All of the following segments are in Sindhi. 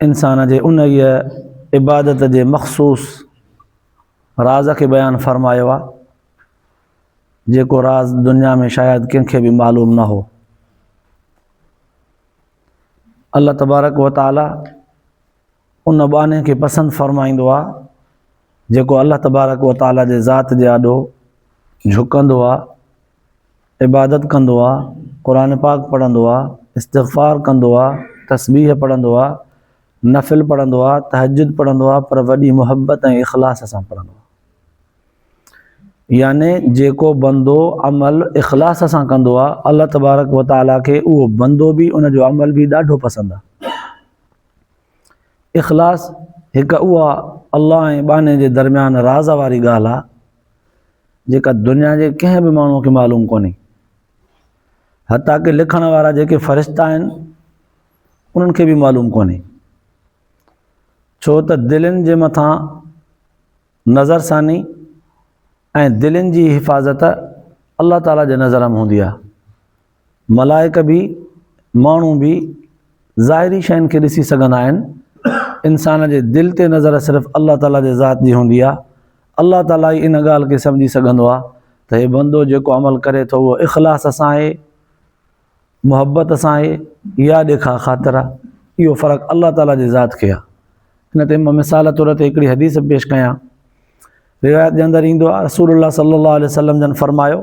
انسان جي انهيء عبادت جي مخصوص راز کي بيان فرمايو آهي جيڪو راز دنيا ۾ شايد ڪنهن کي به معلوم نه هو الله تبارڪ و تعالي ان باني کي پسند فرمائيندو آهي جيڪو الله تبارڪ و تعالي جي ذات جي آڏو جھڪندو آهي عبادت ڪندو آ، قرآن پاڪ پڙهندو آ، استغفار ڪندو آ، تسبيح پڙهندو آ، نفل پڙهندو آ، تهجد پڙهندو آ پر وڏي محبت ۽ اخلاص سان پڙهندو آ. يعني جيڪو بندو عمل اخلاص سان ڪندو آ الله تبارڪ و تعالي کي اهو بندو به ان جو عمل به ڏاڍو پسند آ. اخلاص هڪ اها الله ۽ ٻانهي جي درميان راز واري ڳالهه آ. جيڪا دنيا جي ڪنهن به ماڻهوء کي معلوم ڪونهي. حتيٰ ڪي لکڻ وارا جيڪي فرشتا آهن، انهن کي به معلوم ڪونهي. ڇو ته دلين جي مٿان نظر ثاني ۽ دلين جي حفاظت الله تعاليٰ جي نظر ۾ هوندي آهي. ملائڪ به، ماڻهو به ظاهري شين کي ڏسي سگهندا آهن. انسان جي دل تي نظر صرف الله تعاليٰ جي ذات جي هوندي آهي. الله تعاليٰ ئي ان ڳالهه کي سمجهي سگهندو آهي ته هي بندو جيڪو عمل ڪري ٿو اهو اخلاص سان آهي، محبت سان آهي يا ڏيکاء خاطر آهي. اهو فرق الله تعاليٰ جي ذات کي آهي. ان تي مان مثال طور تي هڪڙي حديث پيش ڪيان. روايت جي اندر ايندو آهي رسول الله صلي الله عليه وسلم جن فرمايو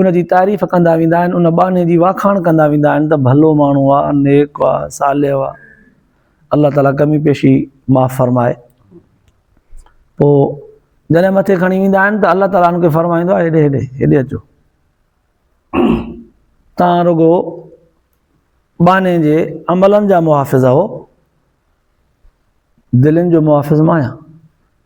ان جي تعريف ڪندا ويندا آهن ان ٻانهي جي واکاڻ ڪندا ويندا آهن ته ڀلو ماڻهو آ نيڪ آ صالح آ الله تعالي ڪمي پيشي معاف فرمائي پو جڏهن مٿي کڻي ويندا آهن ته الله تعالي ان کي فرمائيندو آهي هيڏي هيڏي هيڏي اچو تان رڳو ٻانهي جي عملن جا محافظ آهو دلين جو محافظ مايا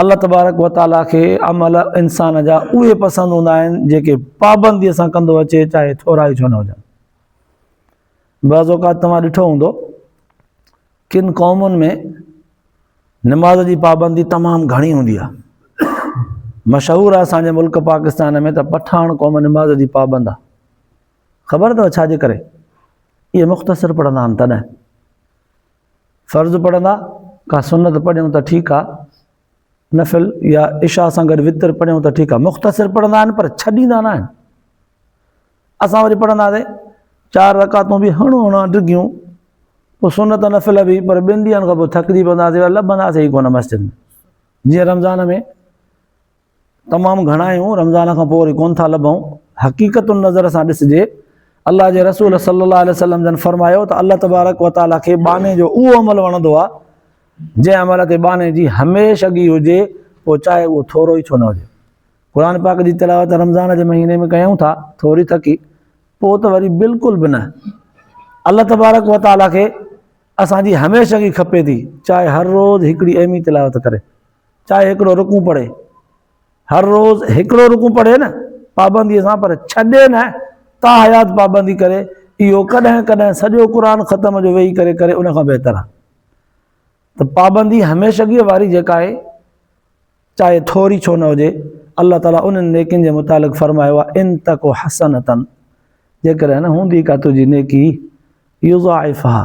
الله تبارڪ و تعاليٰ کي عمل انسان جا اهي پسند هوندا آهن جيڪي پابنديء سان ڪندو اچي چاهي ٿورا ئي ڇو نه هجن بعض اوقات توهان ڏٺو هوندو ڪن قومن ۾ نماز جي پابندي تمام گهڻي هوندي آهي مشهور آهي اسان جي ملڪ پاڪستان ۾ ته پٺاڻ قوم نماز جي پابند آهي خبر اٿو ڇا جي ڪري اهي مختصر پڙهندا آهن تڏهن فرض پڙهندا، ڪا سنت پڙهيون ته ٺيڪ آ، نفل يا عشاء سان گڏ وتر پڙهيون ته ٺيڪ آ، مختصر پڙهندا آهن پر ڇڏيندا نه آهن. اسان وري پڙهنداسين چار رڪعتون به هڻ هڻان ڊگهيون، پوء سنت نفل به پر ٻن ڏينهن کان پوء ٿڪجي پونداسين، لڀنداسين ئي ڪونه مسجد ۾، جيئن رمضان ۾. تمام گهڻا آهيون رمضان کان پوء وري ڪونه ٿا لڀون حقيقت النظر سان ڏسجي الله جي رسول صلي الله عليه وسلم جن فرمايو ته الله تبارڪ وتعالي کي ٻانهي جو اهو عمل وڻندو آهي جنهن عمل تي ٻانهي جي هميشھ اڳي هجي پوء چاهي اهو ٿورو ئي ڇو نه هجي قرآن پاڪ جي تلاوت رمضان جي مهيني ۾ ڪيون ٿا ٿوري ٿڪي پوء ته وري بلڪل به نه الله تبارڪ وتعالي کي اسانجي هميشھ اڳي کپي ٿي چاهي هر روز هڪڙي ايمي تلاوت ڪري چاهي هڪڙو رڪوع پڙهي. هر روز هڪڙو رڪوع پڙهي نه پابنديء سان پر ڇڏي نه تا حيات پابندي ڪري، اهو ڪڏهن ڪڏهن سڄو قرآن ختم جو ويهي ڪري ڪري ان کان بهتر آهي ته پابندي هميشگيء واري جيڪا آهي چاهي ٿوري ڇو نه هجي، الله تعاليٰ انهن نيڪين جي متعلق فرمايو آهي، ان تڪ حسنة جيڪڏهن هوندي ڪا تنهنجي نيڪي يضاعفها،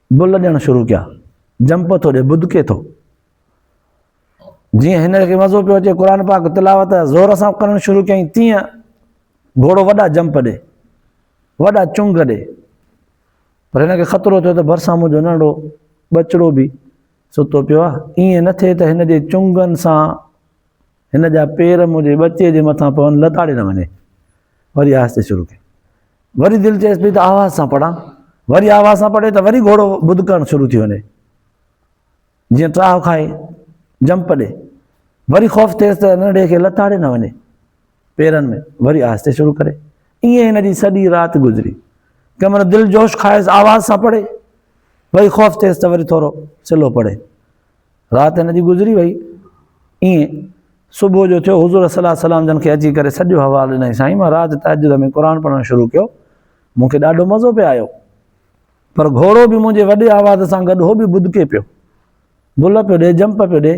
بل ڏيڻ شروع ڪيا. جمپ ٿو ڏي، بدڪي ٿو. جيئن هن کي مزو پيو اچي قرآن پاڪ تلاوت زور سان ڪرڻ شروع ڪيائين تيئن گهوڙو وڏا جمپ ڏي، وڏا چنگ ڏي. پر هن کي خطرو ٿيو ته ڀرسان منهنجو ننڍڙو ٻچڙو به ستو پيو آهي. ائين نه ٿئي ته هن جي چنگن سان هن جا پير منهنجي ٻچي جي مٿان پون لتاڙي نه وڃي وري آهستي شروع ڪئي وري دل چيس پئي ته آواز سان پڙهان وري آواز سان پڙهي ته وري گهوڙو ٻڌ ڪرڻ شروع ٿي وڃي جيئن ٽاهو کائي جمپ ڏي وري خوف ٿيس ته ننڍي کي لتاڙي نه وڃي پيرن ۾ وري آهستي شروع ڪري ائين هن جي سڄي رات گذري ڪمر دل جوش کائيس آواز سان پڙهي وري خوف ٿيس ته وري ٿورو سلو پڙهي رات هن جي گذري وئي. ائين صبح جو ٿيو، حضور صلي وسلم جن کي اچي ڪري سڄو حوال ڏنائين، سائين مان رات تهجد ۾ قرآن پڙهڻ شروع ڪيو، مون کي ڏاڍو مزو پئي آيو، پر گهوڙو به منهنجي وڏي آواز سان گڏ هو به ٻڌڪي پيو، بل پيو ڏي، جمپ پيو ڏي،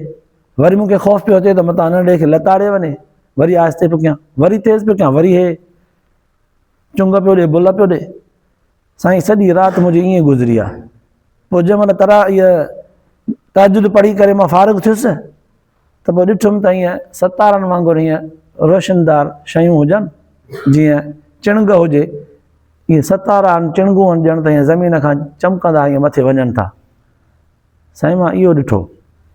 وري مون کي خوف پيو اچي ته متان ننڍي کي لتاڙي وڃي، وري آهستي پيو ڪيان، وري تيز پيو ڪيان، وري هي چنگ پيو ڏي، بل پيو ڏي. سائين سڄي رات منهنجي ائين گذري آ پوء جنهن مهل تراويح تهجد پڙهي ڪري مان فارغ ٿيس ته پوء ڏٺم ته ائين ستارن وانگر ائين روشندار شيون هجن جيئن چڻنگ هجي ائين ستارا آهن چڻنگون آهن ڄڻ ته ائين زمين کان چمڪندا ائين مٿي وڃن ٿا سائين مان اهو ڏٺو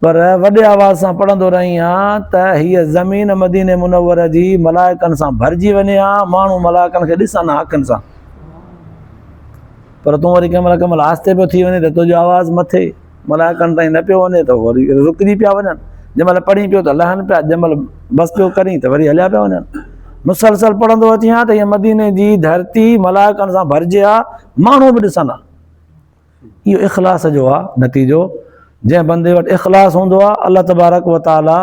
پر وڏي آواز سان پڙهندو رهين ها ته هيء زمين مديني منوره جي ملائڪن سان ڀرجي وڃي ها، ماڻهو ملائڪن کي ڏسن ها اکين سان. پر تون وري ڪنهن مهل ڪنهن مهل آهستي پيو ٿي وڃين ته تنهنجو آواز مٿي ملائڪن تائين نه پيو وڃي ته وري رڪجي پيا وڃن، جنهن مهل پڙهين پيو ته لهن پيا، جنهن مهل بس پيو ڪرين ته وري هليا پيا وڃن. مسلسل پڙهندو اچين ها ته هيء مديني جي ڌرتي ملائڪن سان ڀرجي ها، ماڻهو به ڏسن ها. اهو اخلاص جو آ نتيجو، جنهن بندي وٽ اخلاص هوندو آ، الله تبارڪ و تعالي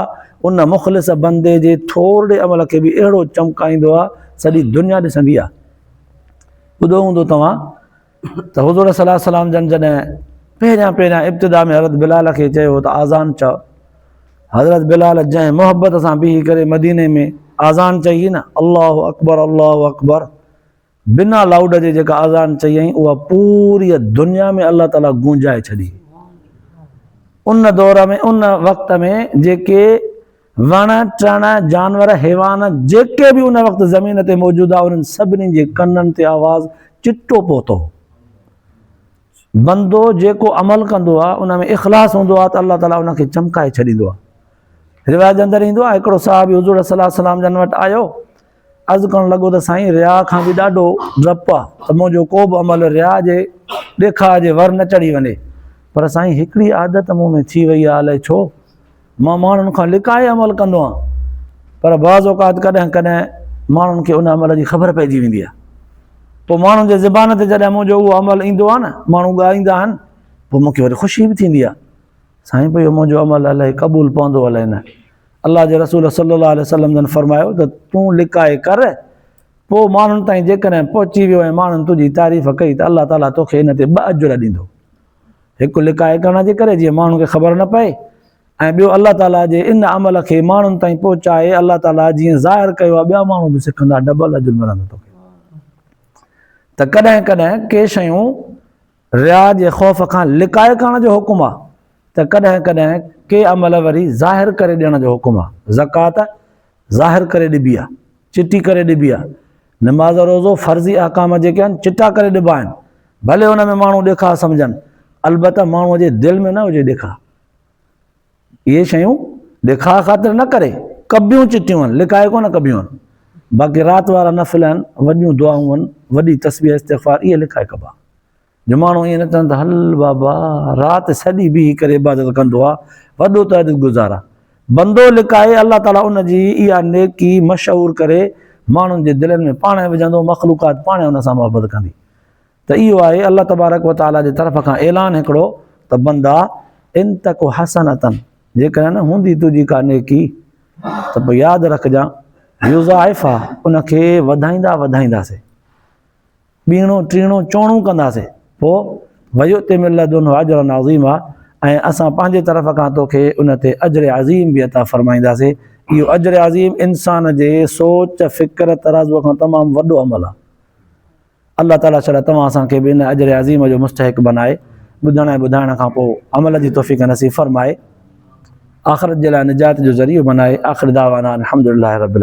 ان مخلص بندي جي ٿورڙي عمل کي به اهڙو چمڪائيندو آ، سڄي دنيا ڏسندي آ. ٻڌو هوندو توهان ته حضور صلي وسلم جن جڏهن پهريان پهريان ابتدا ۾ حضرت بلال کي چيو ته آذان چئو، حضرت بلال جنهن محبت سان بيهي ڪري مديني ۾ آذان چئي نه، الله اڪبر الله اڪبر، بنا لائوڊ جي جيڪا اذان چيائين اها پوريء دنيا ۾ الله تعاليٰ گونجائي ڇڏي. ان دور ۾ ان وقت ۾ جيڪي وڻ ٽڻ جانور حيوان جيڪي به ان وقت زمين تي موجود ها انهن سڀني جي ڪنن تي آواز چٽو پهتو هو. بندو جيڪو عمل ڪندو ها ان ۾ اخلاص هوندو ها ته الله تعاليٰ ان کي چمڪائي ڇڏيندو ها. روايت جي اندر ايندو ها هڪڙو صحابي حضور صلي الله عليه وسلم جن وٽ آيو عرض ڪرڻ لڳو ته سائين رياء کان به ڏاڍو ڊپ آ ته منهنجو ڪو به عمل رياء جي ڏيکاء جي ور نه چڙهي وڃي پر سائين هڪڙي عادت مون ۾ ٿي وئي آ الائي ڇو مان ماڻهن کان لڪائي عمل ڪندو آهيان پر بعض اوقات ڪڏهن ڪڏهن ماڻهن کي ان عمل جي خبر پئجي ويندي آ پوء ماڻهن جي زبان تي جڏهن منهنجو اهو عمل ايندو آ نه ماڻهو ڳائيندا آهن پوء مون کي وري خوشي به ٿيندي آ سائين پوء اهو منهنجو عمل الائي قبول پوندو الائي نه الله جي رسول صلي الله عليه وسلم جن فرمايو ته تون لڪائي ڪر پوء ماڻهن تائين جيڪڏهن پهچي ويو ۽ ماڻهن تنهنجي تعريف ڪئي ته الله تعالي توکي ان تي ٻه اجر ڏيندو هڪ لڪائي ڪرڻ جي ڪري جيئن ماڻهن کي خبر نه پئي ۽ ٻيو الله تعالي جي ان عمل کي ماڻهن تائين پهچائي الله تعالي جيئن ظاهر ڪيو آهي ٻيا ماڻهو به سکندا ڊبل اجر ملندو توکي ته ڪڏهن ڪڏهن ڪي شيون ريا جي خوف کان لڪائي ڪرڻ جو حڪم آ ته ڪڏهن ڪڏهن ڪي عمل وري ظاهر ڪري ڏيڻ جو حڪم آ، زڪوات ظاهر ڪري ڏبي آ، چٽي ڪري ڏبي آ، نماز روزو فرضي احڪام جيڪي آهن چٽا ڪري ڏبا آهن ڀلي ان ۾ ماڻهو ڏيکاء سمجهن البته ماڻهوء جي دل ۾ نه هجي ڏيکاء. اهي شيون ڏيکاء خاطر نه ڪري ڪبيون چٽيون هن، لڪائي ڪونه ڪبيون هن، باقي رات وارا نفل هن، وڏيون دعائون هن، وڏي تسبيح استغفار اهي لڪائي ڪبا. جو ماڻهو ائين نه چون ته هل بابا رات سڄي بيهي ڪري عبادت ڪندو آ، وڏو تهجد گذار آ. بندو لڪائي الله تعاليٰ ان جي اها نيڪي مشهور ڪري ماڻهن جي دلين ۾ پاڻهي وجهندو، مخلوقات پاڻهي ان سان محبت ڪندي. ته اهو آهي الله تبارڪ و تعالي جي طرف کان اعلان هڪڙو ته بندا ان تڪ حسنة جيڪڏهن هوندي تنهنجي ڪا نيڪي ته پوء ياد رکجان يضاعفها ان کي وڌائيندا وڌائينداسي ٻيڻو ٽيڻو چوڻو ڪنداسي پوء ويؤتي من لدنه اجرا عظيما ۽ اسان پنهنجي طرف کان توکي ان تي اجر عظيم به عطا فرمائينداسي اهو اجر عظيم انسان جي سوچ فڪر ترازو کان تمام وڏو عمل آهي الله تعاليٰ شالا توهان اسان کي به ان اجر عظيم جو مستحق بنائي ٻڌڻ ۽ ٻڌائڻ کان پوء عمل جي توفيق نصيب فرمائي آخرت جي لاء نجات جو ذريعو بنائي آخر دعوانا الحمدلله رب العالمين.